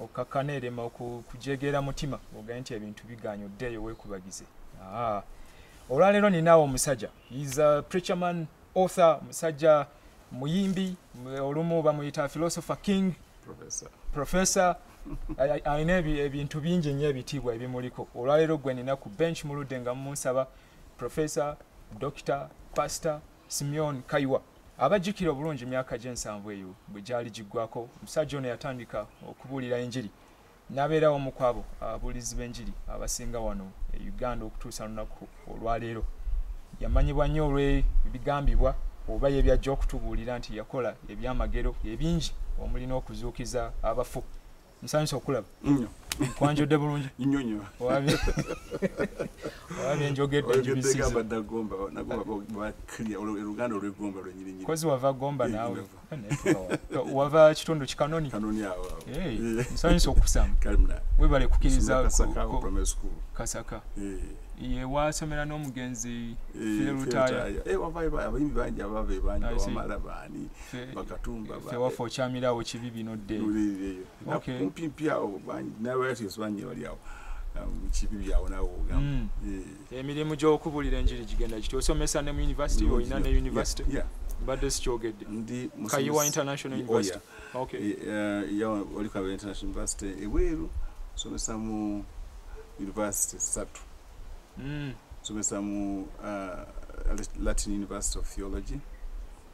okkakkana erema okujegeera mutima ogende nti ebintu bigaanyi oddeeyo weekubagize olwaleero ninaawo omusajja is a preacherman author musajja muyimbi olumu bamuyita philosopher king professor alina ebintu bingi nnyo ebitiibwa ebimuliko olwaleero gwe nina ku bench muludde nga munsaba professor doctor pastor Simeon Kaiwa abajjukira obulungi emyaka gy'ensanvu eyo bwe gyali giggwako omusajja ono yatandika okubuulira enjiri n'abeerawo omu ku abo ababuulizi b'enjiri abasinga wano e uganda okutuusa lunaku olwaleero yamanyibwa nnyo olw'ebigambibwa oba ye byajja okutubuulira nti yakola ebyamagero ebingi omuli n'okuzuukiza abafu nsanyusa okulaba kwanjodde bulungi owabye njogeddekozi wava gomba nawe wava kitundu kikanoni nsanyusa okusama webale kukiriza kasaka ye wasomera n'omugenzi eh, bakatumba fe wafa okyamira awo kibi bino dde okay kumpi mpi awo n'abalatios bangi bali awo um, kibi byawo nawe ogamba hmm. emirimu gy'okubuulira enjiri gigenda kiti osomesa ne mu university olina ne university mbadde sikyogedde kayiwa international oh, university okay eh, eh, oli kayiwa international university ebweru somesa mu university satu hmm. somesa mu uh, latin university of theology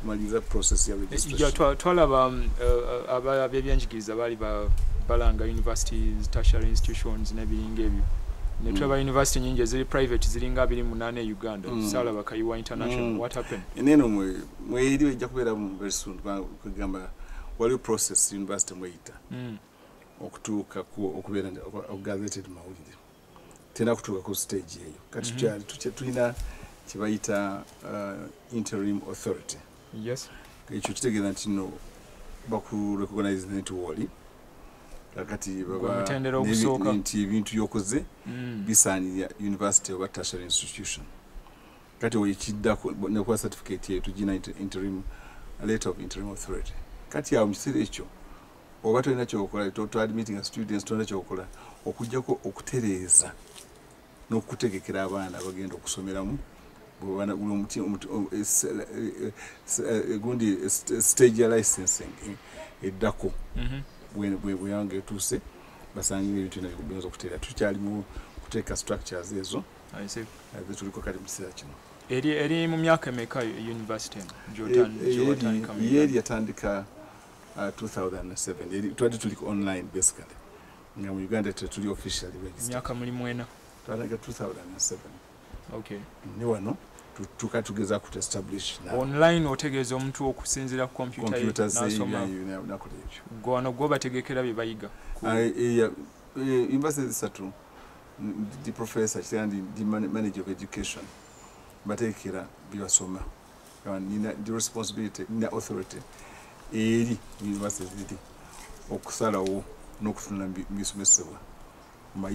kumaliza process ya registration twalaba um, uh, uh, aba byebyenjigiriza bali ba balanga universities tertiary institutions nebiringa ebyo netulaba mm. university nyingi eziri private ziringa abiri munana e uganda mm. sala bakayiwa international mm. what happened eneno mwe mweyiri ejja kubeera mu very soon kugamba waliwo process university mweyita mm. okutuuka okubeera okugazeted mawulire tena kutuka ku stage eyo kati mm -hmm. tulina kibayita uh, interim authority yes ekyo kitegeeza nti no bakurecognize nti woli kakati nti ebintu byokoze mm. bisaanira university oba tertiary institution kati oyo kiddako nekuba certificate eyo tugina interim letter of interim authority kati awo mu kiseera ekyo oba tolina kyokola toadmitting students tolina kyokola okujjako okutereeza n'okutegekera abaana abagenda okusomeramu gundi stage ya licensing eh, eddako mm-hmm. bweyanga etuuse basangire ebintu byona biyinza okuteera tukyalimu kuteeka structures ezo tuliko kali mu kiseera kino eri mu myaka emeka university gyotandika 2007 uh, twali tuli online basically nga mu uganda tetuli officially myaka muli mwena twalaga 2007 okay ne wano tuka tugeza ku establish na online otegeeza omuntu okusinzira ku computer ye nasoma nakola ekyo gwano gwo bategekera bye bayiga ah, eh, eh, eh, university zisatu ndi professor kitandi ndi manager of education bategekera bye basoma nina the responsibility nina authority eri university ziri okusalawo n'okutunda bisomesebwa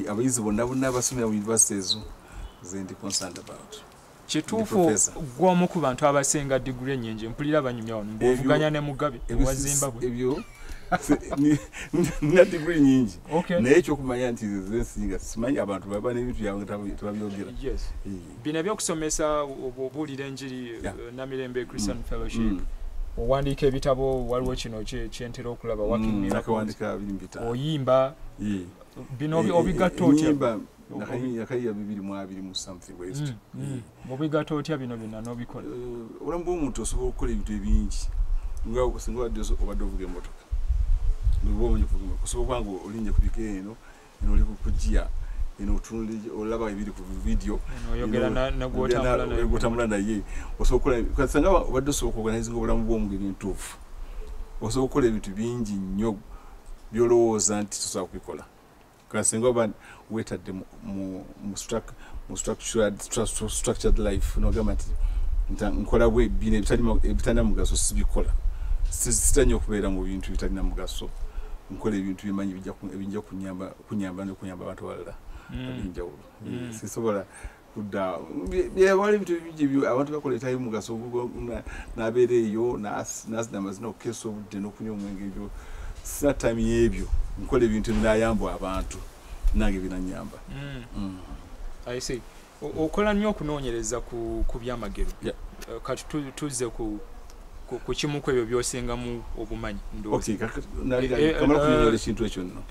abayizi bonna bonna abasomera mu university ezo zendi concerned about kituufu gwomu ku bantu abasinga diguli enyingi mpulira banyumya wano bwovuganya ne mugabe ewa zimbabwe nina diguli nyingi naye ekyokumanya nti zesinga simanyi abantu baba nebintu byabwe tebabyogera bino ebyokusomesa obuulira enjiri eh, namirembe christian mm. fellowship mm. owandiika ebitabo waliwo kino kyentera okulaba mm, oyimba bino eh, obigatta eh, otya obigatta otya bino byonna nobikola obulamu bwomuntu osobola okukola ebintu ebingi nga singa obadde obadde ovuga emotoka osobola kubanga olinnya ku biko eno eno oli kukujia eno otunuli olaba ebiri ku video oyogeraogutambula naye osookolasanga obadde osooka oganizinga obulamu bwomugeri entuufu osobola okukola ebintu bingi nnyo byolowooza nti tosobola kubikola kasinga oba wetadde mu mu structured life nogamba nti nkola bwe bino ebitalina mugaso sibikola sitanyo okubeera mu bintu bitalina mugaso nkola ebintu byemanyi ebijja kunyamba nokuyamba abantu abalala hmm. abinjawulo hmm. sisobola abantu bakola etali mugaso nabeera eyo nazina amazina okukeesa obudde nokunywa omwenge ebyo sina time yebyo nkola ebintu ebinayambwa abantu nange binanyamba mm. mm. okola nnyo okunoonyereza ku byamagero eh, kati tuzze ku ku kimu ku ebyo byosingamu obumanyi ndoekintu ekintu ekyo nno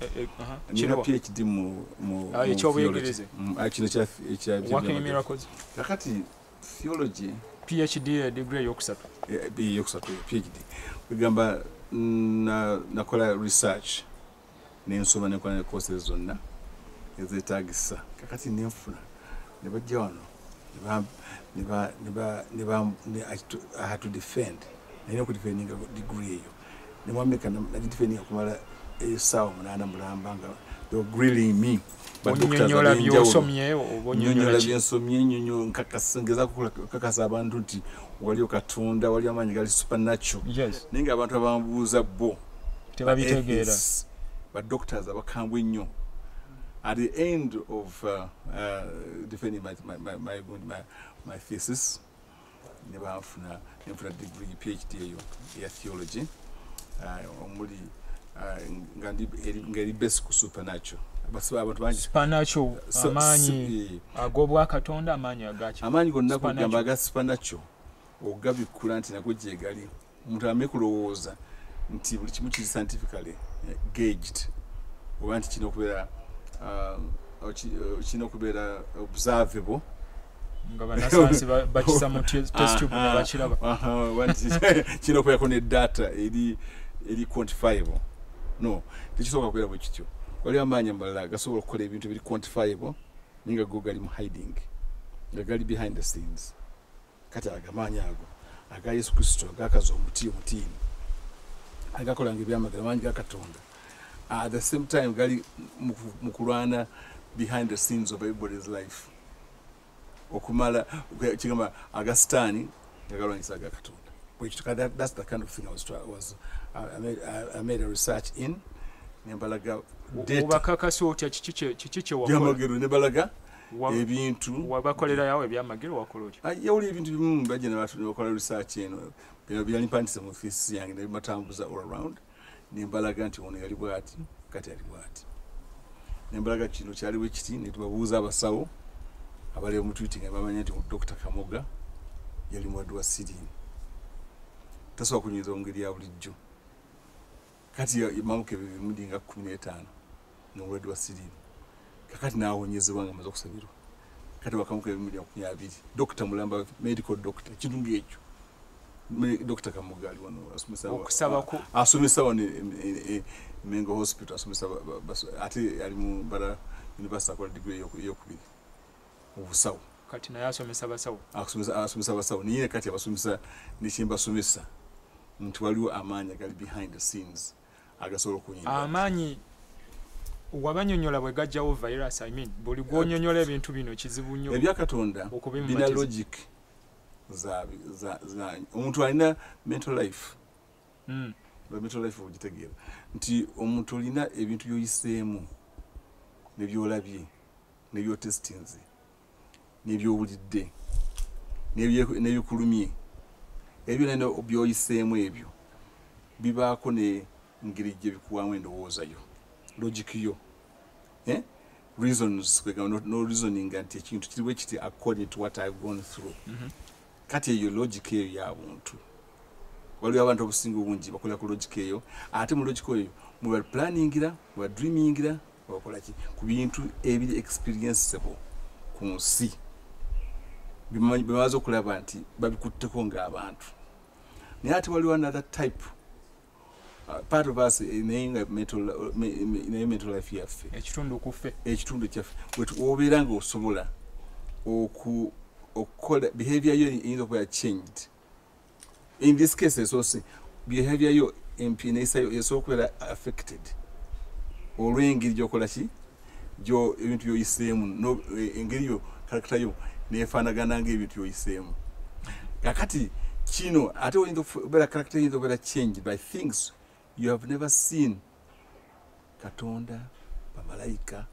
nina phd mukyobuyegereze kino kyakati theology phd degree eyokusatu eyokusatu phd kwegamba nakola research nensoma nekola ne courses zonna ezetagisa kakati nenfuna nebajja wano to defend naye okudefendinga degree eyo nemwameka nadidefendinga kumala esaawa munaana mulamba nga grilling me onyonyola byosomye onyonyola byensomye nyonyo nkakasa ngeza kukakasa abantu nti waliyo katonda waliyo amaanyi gali supernatural yes. naye nga abantu abamubuuza bo tebabitegeera ba doctors abakambwe ennyo at the end of uh, uh, defending my, my, my, my, my, my thesis ne banfuna ne nfuna digiri phd eyo eya theology uh, omuli uh, nga eri base ku supernatural basiba abantu bangi supernatural amaanyi eh. ag'obwakatonda amaanyi agaki amaanyi gonna kugamba aga supernatural ogabikkula nti nago gyegali omuntu ame kulowooza nti buli kimu kiri scientifically eh, gaged oba nti kirina okubeera um, uh, kirina okubeera observable nga banasayansi bakisa mu testube ne bakiraba kirina okubeerako ne data eri eri quantifiable no tekisoboka kubeera bwe kityo waliwo amaanyi amalala gasobola okukola ebintu ebiri quantifiable naye nga go gali mu hiding nga gali behind the scenes kati agamaanyi ago aga yesu kristo agakaza omuti omutiini agakolanga ebyamagero amaanyi ga katonda at the same time gali mu kulwana behind the scenes of everybody's life okumala kigamba aga sitaani nga galwanyisa aga katonda which that, that's the kind of thing I was was uh, I made I, I made a research in Nebalaga data. Ubakaka so cha chichiche chichiche wa. Yamagero Nebalaga ebintu wabakolera yawo ebyamagero wakola otya ah, yawuli ebintu bimu bajja nebakola research eno bino byali mpandise mu fisi yange nebatambuza all around nembalaga nti ono yali bwati kati yali bwati nembalaga kino kyali wekiti netubabuuza abasawo abali omutwiti nga bamanya nti dokita kamoga yali mulwadde wa sirimu tasobola kunyinza omungeri ya bulijjo kati yamamuka ebimundi nga kumi n'etaano n'obulwadde bwa siriimu kakati n'awonyezebwa nga amaze okusabirwa kati wakamuka ebimundi makumi abiri dokita mulamba medical dokita ekintu ng'ekyo dokita kamuga ali wano asomesa wano e, e, e, mengo hospital asomesa ate ali mu bara university akola digiri eyokubiri obusawo kati naye asomesa basawo asomesa basawo naye kati abasomesa nekyembasomesa nti waliwo amaanyi agali behind the scenes agasobola okunyinga amaanyi wabanyonyola bwe gajjawo virus i mean buli gwonyonyola ebintu bino kizibu nnyo ebya katonda bina logic omuntu alina mental life hmm. mental life ogitegeera nti omuntu olina ebintu byoyiseemu nebyolabye nebyotestinze nebyowulidde nebikulumye ebyo nene byoyiseemu ebyo bibaako ne ngeri gye bikuwamu endowooza yo logic yo eh? reasons kwegamba no reasoning nti ekintu kiri bwe kiti according to what i've gone through mm -hmm. kati eyo logic eyo ya buntu waliwo abantu obusinga obungi bakola ku logic eyo ate mu logic eyo muba planningira muba dreamingira bakolaki ku bintu ebiri experienceable ku nsi bemaze okulaba nti babikutteko ngaabantu naye ate waliwo another type Uh, part of us eh, naye nga naye mental life yaffe ekitundu kufe ekitundu kyaffe wobeera nga osobola okukola behavior yo eyinza okuba changed in this case esoose behavior yo empi neyisayo esobola okubeera affected olw'engeri gyokola ki gyo ebintu byoyiseemu e, engeri yo karakita yo nefaanagana ngaebintu byoyiseemu kakati kino ate oyinza okubeera karakita eyinza okubeera change by things you have never seen katonda bamalayika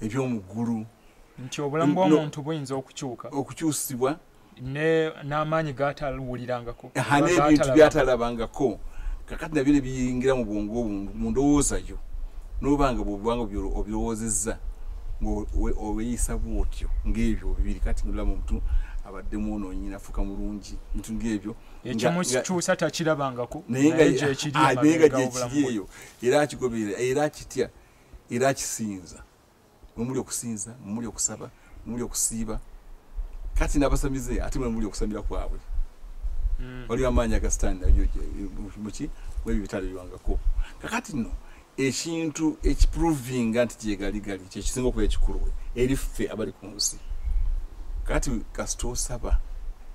ebyomuggulu nti obulamu bwomuntu buyinza okukyuka okukyusibwa n'amaanyi gaatawulirangako aha n'ebintu byatalabangako kakati nabyo ne biyingira mu bwongo mu ndowooza yo n'oba nga bwobanga obirowoozezza ngaobeeyisa bwotyo ng'ebyo bibiri kati nolaba omuntu abadde mwonoonyi nafuuka mulungi bintu ng'ebyo ekyomukikyusa takirabangako naye nga gyekiri eyo era akigoberera era akitya era akisinza mwemuli okusinza mwemuli okusaba mwemuli okusiiba kati nabasamize ate mwemuli okusamira kwabwe hmm. waliwo amaanyi agasitanda muki mwebyo bitale biwangako kakati no ekintu ekiprovinga nti gyegaligali kyekisinga okuba ekikulu eri ffe abali ku nsi kati kasita osaba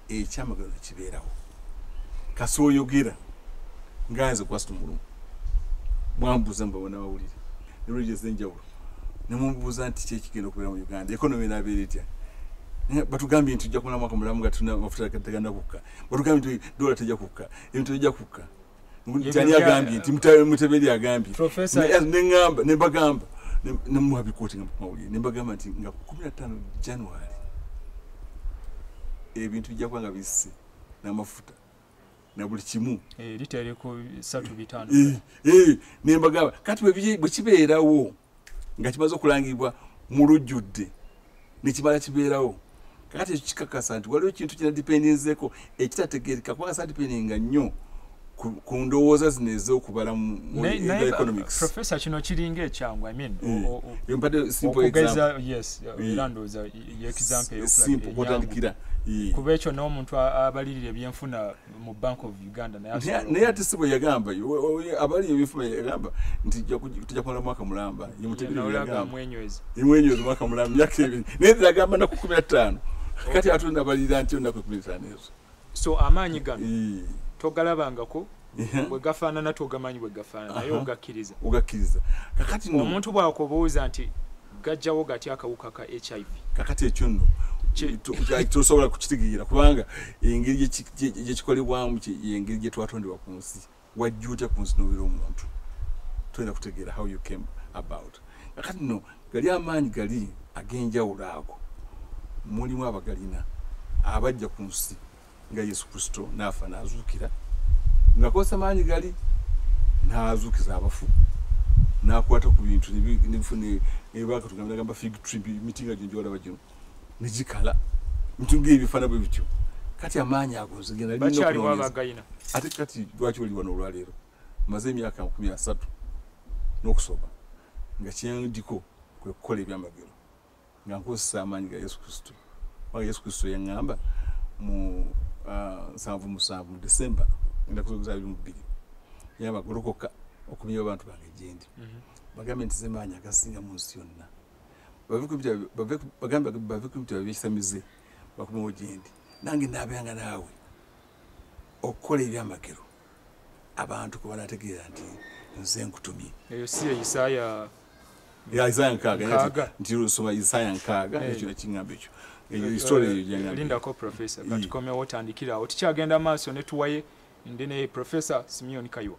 ekyamagano kibeerawo kasi oyogera nga nze kwasita omulumu bwambuza mubabona bawulire knowledge ezenjawulo nemubuuza nti kyekigenda okubeera mu uganda economy nabeera etya batugambye nti tujja kumala mwaka mulamu nga tulina amafuta teganda kukka batugambye nti dola tejja kukka ebintu tejja kukka tani agambye nti muteberi agambye neamba nebagamba nemuwa bikooti nga mumawulire nebagamba nti nga kumi natano january ebintu bijja kuba nga bisse n'amafuta na buli kimu eh, litereko satu bitano eh, eh, nembagaba kati bwekibeerawo nga kimaze okulangibwa mu lujjudde nekibala kibeerawo kati ekyo kikakasa nti waliwo ekintu kinadipendinzeko ekitategereka kubanga sadipendinga nnyo ku ndowooza zino ez'okubala mueconomicsprofessor kino kiringa ekyangu i mean mm. okugeza yes era ndowooza simpokwotandikira kuba ekyo n'omuntu abalirira ebyenfuna mu bank of uganda naye ate si bwe yagamba abalirira ebyenfuna yagamba nti tujja kumala mwaka mulamba yemutegereamwenywezi mwaka mulamba myaka ebiri naye agamba naku kumi na ttaano kati atonda abalirira nti onaku kumi na ttaano ezo so amaanyi gano togalabangako bwe gafaanana togamanyi bwe gafaanana naye ogakkiriza ogakkiriza kakati no omuntu bw'akubuuza nti gajjawo gatya akawuka ka hiv kakati ekyo nno tosobola kukitegeera kubanga engeri gyekikolebwamu engeri gye twatondebwa ku nsi wajja otya ku nsi nobeera omuntu toyina kutegeera how you came about kakati no gali amaanyi gali ag'enjawulo ago mulimu abagalina abajja ku nsi nga yesu kristo naafa n'azuukira ngakozesa maanyi gali n'azuukiza abafu n'akwata ku bintu nebakatugamba fig tree miti nga gyonjolaba gino negikala mitu ngaebifaana bwe bityo kati amaanyi ago nzegendaate kati lwaki oli wano olwaleero maze emyaka nkumi asatu n'okusoma nga kyendiko kwe kukola ebyamagero nga nkozesa amaanyi ga yesu kristo oba yesu kristo yaŋŋamba mu ah, nsanvu musanvu mu decemba ennaku z'okuzaala biri mu bbiri yamba golokoka okumya abantu bange gyendi mhm. bagambe nti zemaanyi agasinga mu nsi yonna bagambe bave ku bitabo byekisamize bakomewo gyendi nange naabeeranga naawe okukola ebyamagero abantu kubanategeera nti nze nkutumye eyo si eisaya isaya nkaaga nti osoma isaya nkaaga eh. ekyo nekiŋamba ekyo eyo histori eyo janlindako professor katukomyawo otandikirawo tikyagenda maaso netuwaye ndi ne professor simeon kayiwa